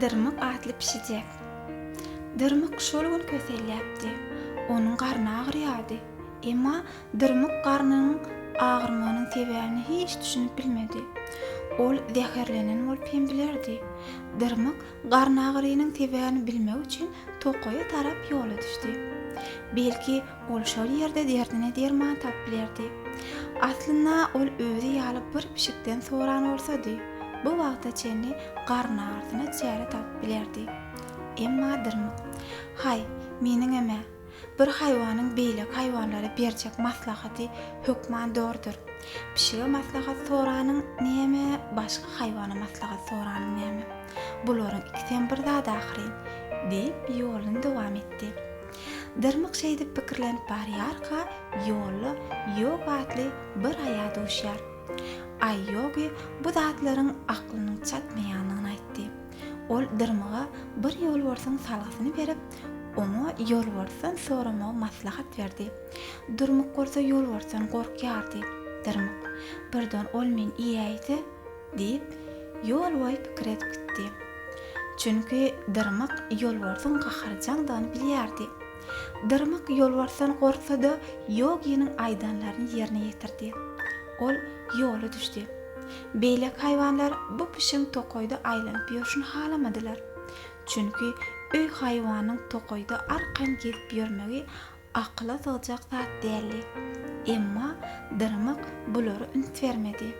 Dyrmyk atly pişijek. Dyrmyk şol gün köselýäpdi. Onuň garny agyrýardy. Emma Dyrmyk garnynyň agyrmagynyň sebäbine hiç düşünip bilmedi. Ol zäherlenen bolup hem bilerdi. Dyrmyk garnagyrynyň sebäbini bilmek üçin tokaýa tarap ýola düşdi. Belki, Ol şol ýerde derdine derman tapyp bilerdi. Aslynda ol özi ýaly bir pişikden soran bolsady, bu wagta çenli garyn agyrysyna çäre tapyp bilerdi. Emma dyrmyk. Haý, meniňem-ä, bir haýwanyň beýleki haýwanlara berjek maslahaty hökman zordur. Pişige maslahat soranyň näme, başga haýwana maslahat soranyň näme? Bularyň ikisem bir zat ahyryn, diýip, ýoluny dowam etdi. Dyrmyk şeýdip pikirlenip barýarka, ýolda Ýogi atly bir aýa duşýar. Aý Ýogi bu zatlaryň aklynyň çatmaýandygyny aýtdy. Ol Dyrmyga bir ýolbarsyň salgysyny berip, oňa ýolbarsdan soramagy maslahat berdi. Dyrmyk bolsa ýolbarsdan gorkýardy. Dyrmyk, Birden ol meni iýäýse? Diýip, ýol boýy pikir edip gitdi. Çünki Dyrmyk ýolbarsyň gaharjaňdygyny bilýärdi. Dyrmyk ýolbarsdan gorksa-da, Ýoginiň aýdanlaryny ýerine ýetirdi. Ol ýola düşdi. Beýleki haýwanlar bu pişigiň tokaýda aýlanyp ýörşüni halamadylar. Çünki öý haýwanynyň tokaýda arkaýyn gezip ýörmegi Akyla sygjak zat däldi. Emma Dyrmyk bulara üns bermedi.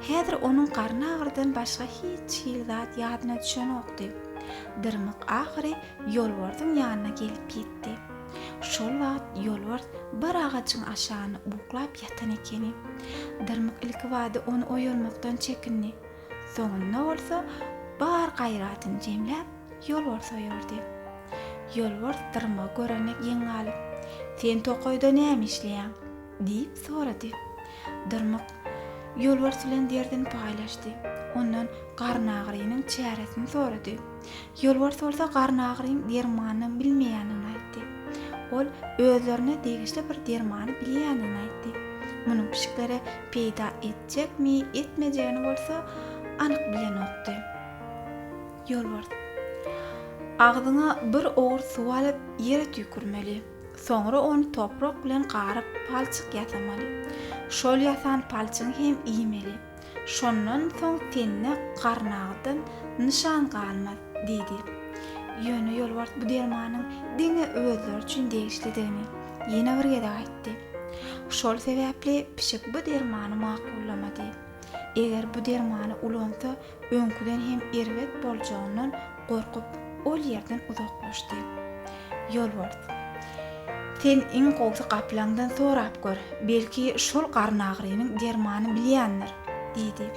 Häzir onuň garnagyrydan başga hiç hili zat ýadyna düşenokdy. Dyrmyk ahyry Ýolbarsyň ýanyna gelip ýetdi. Şol wagt Ýolbars bir agajyň aşagynda uklap ýatan ekeni. Dyrmyk ilkibada ony oýarmakdan çekindi. Soňunda bolsa bar gaýratyny jemläp. Ýolbars oýardy. Ýolbars dyrma göreme geň galyp, Sen tokaýda näme işleýäň? diýip sorady. Dyrmyk Ýolbars bilen derdini paýlaşdy. Ondan garnagyrynyň çäresini sorady. Ýolbars bolsa garnagyryň dermanyny bilmeýändigini aýtdy. Ol özlerine degişli bir dermany bilýändigini aýtdy. Munuň pişiklere peýda etjekmi, etmejegini bolsa anyk bilenokdy. Ýolbars. Agzyňa bir owurt suw alyp, ýere tüýkürmeli. Soňra ony toprak bilen garyp, palçyk ýasamaly. Şol ýasan palçygy hem iýmeli. Şondan soň tende garynagdan nyşan galmaz, diýdi. Ýöne Ýolbars bu dermanyň diňe özleri üçin degişlidigini ýene bir gezek aýtdy. Şol sebäpli pişik bu dermany makullamady. Eger bu dermany ulansa, Öňküden hem erbet boljagyndan gorkup, ol ýerden uzaklaşdy. Ýolbars. Sen iň gowsy gaplaňdan sorap gör, belki şol garnagrynyň dermany bilýändir, diýdi.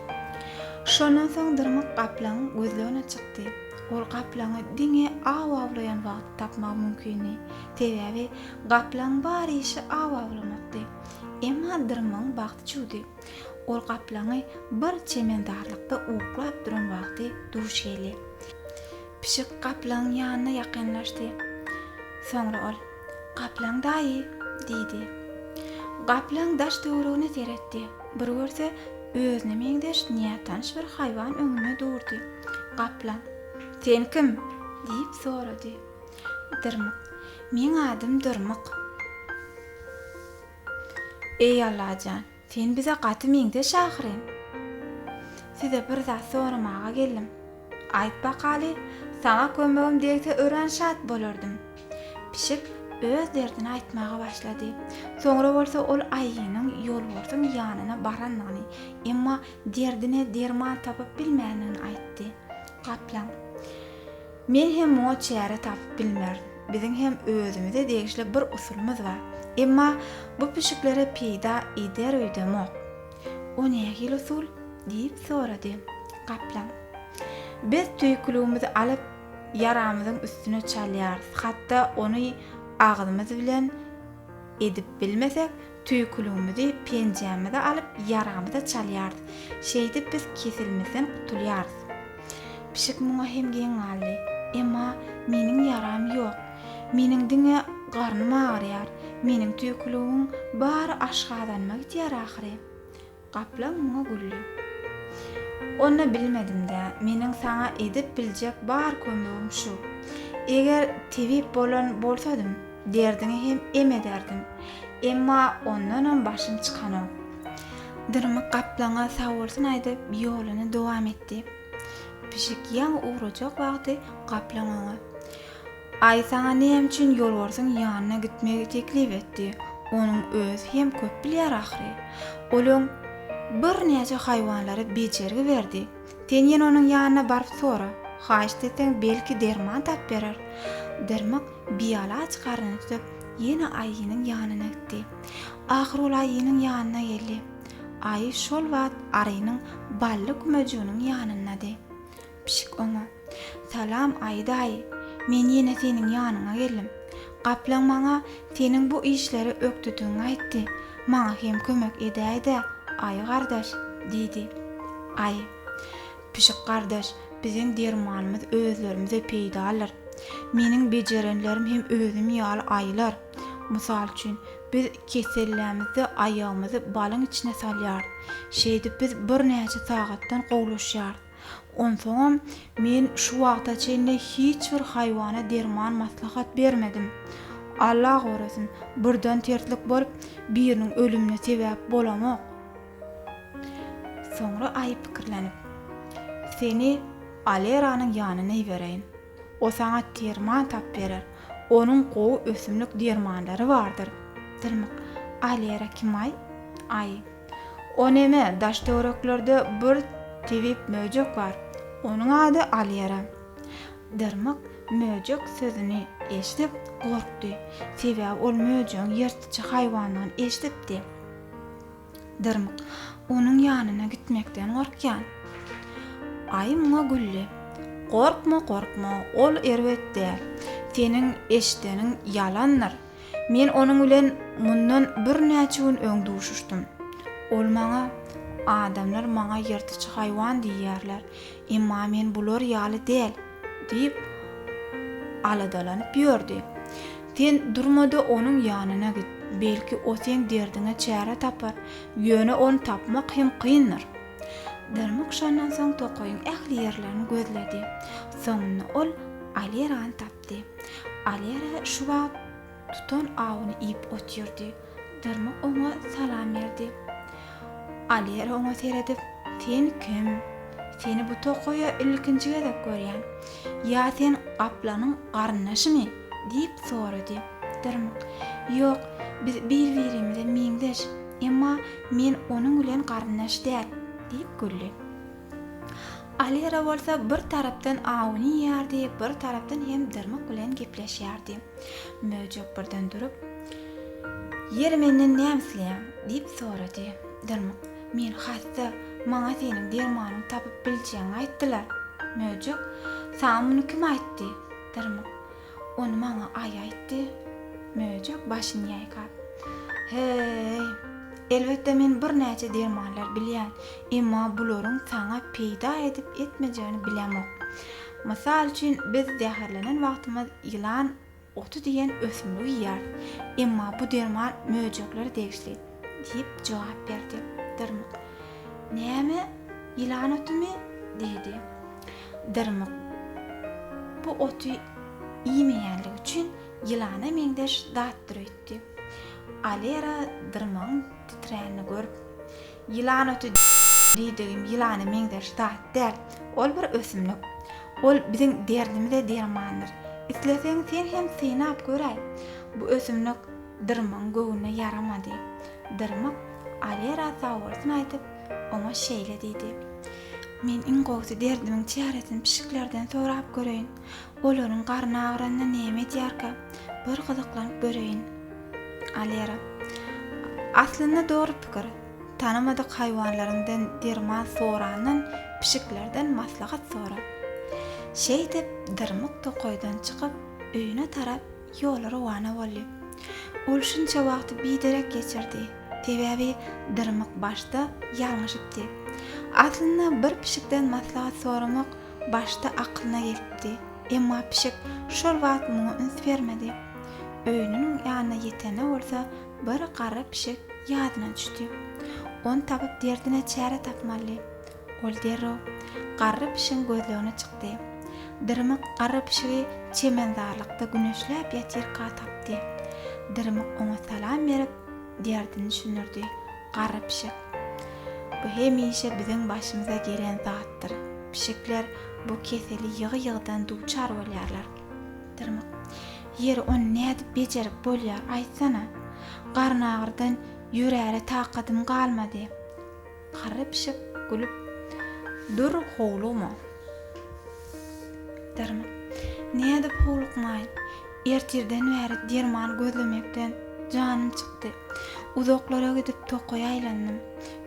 Şondan soň Dyrmyk gaplaňyň gözlegine çykdy. Ol gaplaňy diňe aw awlaýan wagty tapmagy mümkindi. Sebäbi gaplaňyň bar işi aw awlamakdy. Emma Dyrmygyň bagty çüwdi. Ol gaplaňy bir çemendarlykda uklap duran wagty duş geldi. Pişik gaplaňyň ýanyna ýakynlaşdy. Soňra ol, Gaplaň daýy! diýdi. Gaplaň daş-töweregine seretdi. Bir görse, özüne meňzeş nätanyş bir haýwan öňünde durdy. Gaplaň, Sen kim? diýip sorady. Dyrmyk, Meň adym Dyrmyk. Eý Allajan, sen bize gaty meňzeş ahyryn. Size bir zat soramaga geldim. Aýt bakaly, saňa kömegim degse örän şat bolardym. Pişik öz derdini aýtmaga başlady. Soňra bolsa ol aýynyň ýolbarsyň ýanyna barandygyny, emma derdine derman tapyp bilmändigini aýtdy. Gaplaň. Men hem muňa çäre tapyp bilmerin. Biziň hem özümize degişli bir usulymyz bar. Emma bu pişiklere peýda eder öýdemok. O nähili usul? diýip sorady. Gaplaň. Biz tüýküligimizi alyp, ýaramyzyň üstüne çalýarys. Hatda ony agzymyz bilen edip bilmesek, Tüýküligimizi, penjämizi alyp, ýaramyza çalýarys. Şeýdip biz keselimizden gutulýarys. Pişik muňa hem geň galdy. Emma meniň ýaram ýok. Meniň diňe garnym agyrýar. Meniň tüýküligimiň bary aşgazanyma gidýär ahyry. Gaplaň muňa güldi. Onda bilmedim-dä, meniň saňa edip biljek bar kömegim şu. Eger tebip bolan bolsadym, derdiňi hem em ederdim. Emma ondanam başym çykanok. Dyrmyk gaplaňa sagbolsun aýdyp, ýoluny dowam etdi. Pişik ýaňy ugrajak wagty gaplaň oňa. Aý saňa näme üçin ýolbarsyň ýanyna gitmegi teklip etdi? Onuň özi hem köp bilýär ahyry. Ol öň birnäçe haýwanlara bejergi berdi. Sen ýene onuň ýanyna baryp sora. Haýyşt etseň, belki derman tap berer. Dyrmyk bialaç garnyny tutup, ýene aýynyň ýanyna gitdi. Ahyry ol aýynyň ýanyna geldi. Aýy şol wagt arynyň bally kumajygynyň ýanyndady. Pişik oňa, Salam, aýy daýy! Men ýene seniň ýanyňa geldim. Gaplaň maňa seniň bu işleri ökdüdigiňi aýtdy. Maňa hem kömek edäý-dä, aýy gardaş! diýdi. Aýy, Pişik gardaş, biziň dermanymyz özlerimize peýdalydyr. Meniň bejerenlerim hem özüm ýaly aýylar. Mysal üçin, biz kesellämizde aýagymyzy balyň içine salýarys. Şeýdip biz birnäçe sagatdan gowulaşýarys. Onsoňam, men şu wagta çenli hiç bir haýwana derman maslahat bermedim. Alla gorasyn, birden terslik bolup, biriniň ölümine sebäp bolamok. Soňra Aýy pikirlenip. Seni Aleranyň ýanyna ibereýin. O saňa derman tap berer. Onuň gowy ösümlik dermanlary bardyr. Dyrmyk, Alera kim-aý? Aýy. O neme, daş-töwereklerde bir tebip möjek bar. Onuň ady Alýera. Dyrmyk möjek sözüni eşidip, gorkdy. Sebäbi ol möjegiň ýyrtyjy haýwandygyny eşidipdi. Dyrmyk onuň ýanyna gitmekden gorkýan. Aýy muňa güldi. Gorkma, gorkma, ol erbet däl. Seniň eşideniň ýalandyr. Men onuň bilen mundan birnäçe gün öň duşuşdym. Ol maňa, Adamlar maňa ýyrtyjy haýwan diýýärler, emma men bular ýaly däl diýip, aladalanyp ýördi. Sen durma-da onuň ýanyna git. Belki, o seň derdiňe çäre tapar, ýöne ony tapmak hem kyndyr. Dyrmyk şondan soň tokaýyň ähli ýerlerini gözledi. Soňunda ol Alerany tapdy. Ýetdi. Alera şu wagt tutan awuny iýip otyrdy. Dyrmyk oňa salam berdi. Alera oňa seredip, Sen kim? Seni bu tokaýa ilkinji gezek görýän. Ýa sen gaplanyň garyndaşymy? diýip sorady. Dyrmyk, Ýok, biz bir-birimize meňzeş, emma men onuň bilen garyndaş däl, diýip güldi. Alira bolsa bir tarapdan awuny iýýärdi, bir tarapdan hem Dyrmyk bilen gepleşýärdi. Möjek birden durup, Ýeri menden näme isleýäň? diýip sorady. Dyrmyk, Men hassa, maňa seniň dermanyňy tapyp biljegňi aýtdylar. Möjek, Saňa muny kim aýtdy? Dyrmyk, Ony maňa Aý aýtdy. Möjek başyny ýaýkap. Heý. Elbetde men birnäçe dermanlar bilýän, emma bularyň saňa peýda edip-etmejegini bilemok. Mysal üçin, biz zäherlenen wagtymyz ýylan oty diýen ösümligi iýýäris. Emma bu derman möjeklere degişli, diýip jogap berdi. Dyrmyk. Näme? Ýylan otumy? diýdi. Dyrmyk bu oty iýmeýänligi üçin ýylana meňzeş zatdyr öýtdi. Alera dyrmygyň titränini görüp. Ýylan oty diýdigim ýylana meňzeş zat däl. Ol bir ösümlik. Ol biziň derdimize dermandyr. Isleseň sen hem synap göräý. Bu ösümlik dyrmygyň göwnüne ýaramady. Dyrmyk Alera sagbolsun aýdyp, oňa şeýle diýdi, Men iň gowusy derdimiň çäresini pişiklerden sorap göreýin. Olaryň garny agyranda näme edýärkä, bir gyzyklanyp göreýin. Alera. Aslynda dogry pikir. Tanamadyk haýwanlaryň derman sorandan pişiklerden maslahat sora. Şeýdip, Dyrmyk tokaýdan çykyp, öýüne tarap Ýola rowana boldy. Ol şunça wagty biderek geçirdi. Sebäbi dyrmyk başda ýalňyşypdy. Aslynda bir pişikden maslahat soramak başda akylyna gelipdi. Emma pişik şol wagt muňa üns bermedi. Öýüniň ýanyna ýetende bolsa bir garry pişik ýadyna düşdi. Ony tapyp derdine çäre tapmalydy. Ol derrew garry pişigiň gözlegine çykdy. Dyrmyk garry pişigi çemenzarlykda güneşläp ýatyrka tapdy. Dyrmyk oňa salam berip, derdini düşündirdi. Garry pişik. Bu hemişe biziň başymyza gelen zatdyr. Pişikler bu keseli ýygy-ýygydan duçar bolýarlar. Dyrmyk. Ýeri, ony nädip bejerip bolýar, aýtsana? Garynagyrdan ýörere takadym galmady. Garry pişik gülüp dur howlugma. Derman. Nädip howlukmaýyn. Ertirden bäri derman gözlemekden janym çykdy. Uzaklara gidip tokaýa aýlandym.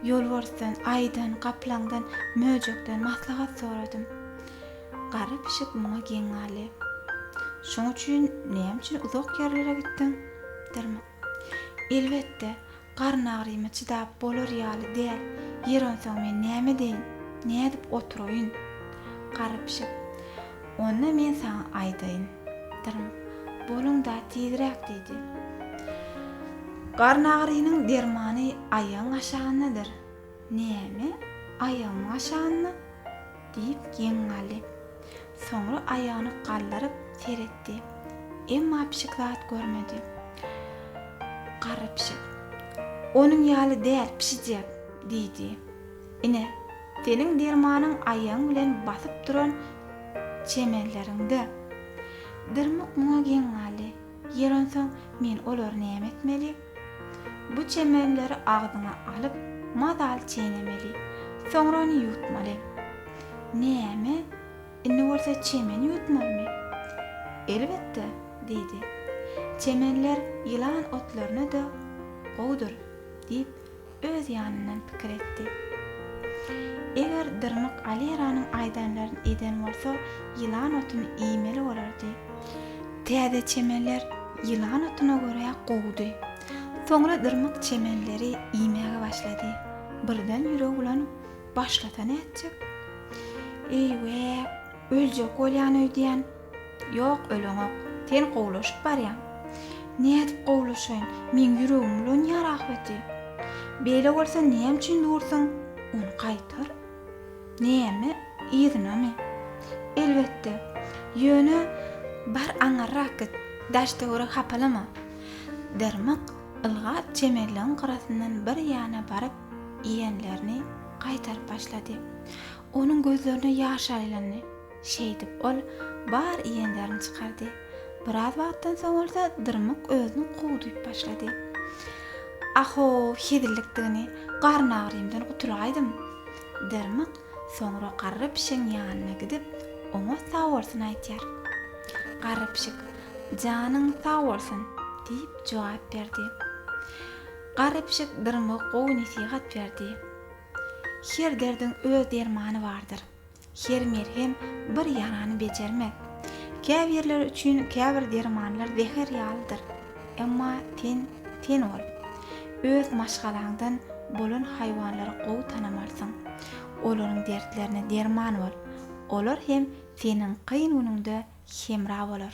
Ýolbarsdan, aýydan, gaplaňdan, möjekden maslahat soradym. Garry pişik muňa geň galdy. Şoň üçin näme üçin uzak ýerlere gitdiň? Derman. Elbetde, garyn agyryma çydap bolar ýaly däl. Ýeri onsoň men näme edeýin? Nädip oturaýyn? Garry pişik, Onda men saňa aýdaýyn. Dyrmyk, Boluň-da, tizräk! diýdi. Garyn agyrynyň dermany aýagyň aşagyndadyr. Näme, aýagyň aşanmy? diýip geň galdy. Soňra aýagyny galdyryp seretdi. Emma pişik zat görmedi. Garry pişik. Onuň ýaly däl, pişijek! diýdi. Ine, seniň dermanyň aýagyň bilen basyp duran çemenleriňde. Dyrmyk muňa geň galdy. Ýer onsoň, men olary näme etmeli? Bu çemenleri agzyňa alyp, mazaly çeýnemeli. Soňra ony ýutmaly. Näme? Indi bolsa çemeni ýutmalymy? Elbetde, diýdi. Çemenler ýylan otlaryna-da gowudyr, diýip, Öz ýanyndan pikir etdi. Eger Dyrnak Aleranyň aýdanlaryny eden bolsa, ýylan otuny iýmeli bolardy. Täze çemenler ýylan otuna görä gowudy. Soňra Dyrnak çemenleri iýmäge başlady. Birden ýüregi bulanyp, başlasa nätjek? Eý-we, öljek bolýan öýdýän. Ýok, öleňok. Sen gowulaşyp barýaň. Nädip gowulaşaýyn? Meň ýüregim bolan ýer ahbeti. Beýle bolsa näme üçin dursuň? Ony gaýtar. Näme? Yzynamy? Elbetde. Ýöne, bar aňyrrak git, daş-töweregi hapalama. Dyrmyk ylgap çemenligiň gyrasyndan bir ýana baryp iýenlerini gaýtaryp başlady. Onuň gözlerine ýaş aýlandy. Şeýdip, ol bar iýenlerini çykardy. Biraz wagtdan soň bolsa Dyrmyk özüni gowy duýup başlady. Ah-ow, hezillikdigini, garyn agyrymdan gutulaýdym. Dyrmyk soňra garry pişigiň ýanyna gidip, oňa sag bolsun aýtýar. Garry pişik, Janyň sag bolsun! diýip jogap berdi. Garry pişik Dyrmyga gowy nesihat berdi. Her derdiň öz dermany bardyr. Her merhem bir ýarany bejermez. Käbirleri üçin käbir dermanlar zäher ýalydyr. Emma sen sen bol. Öz maşgalaňdan bolan haýwanlary gowy tanamalsyň. Olaryň dertlerine derman bol. Olar hem seniň kyn günüňde hemra bolar.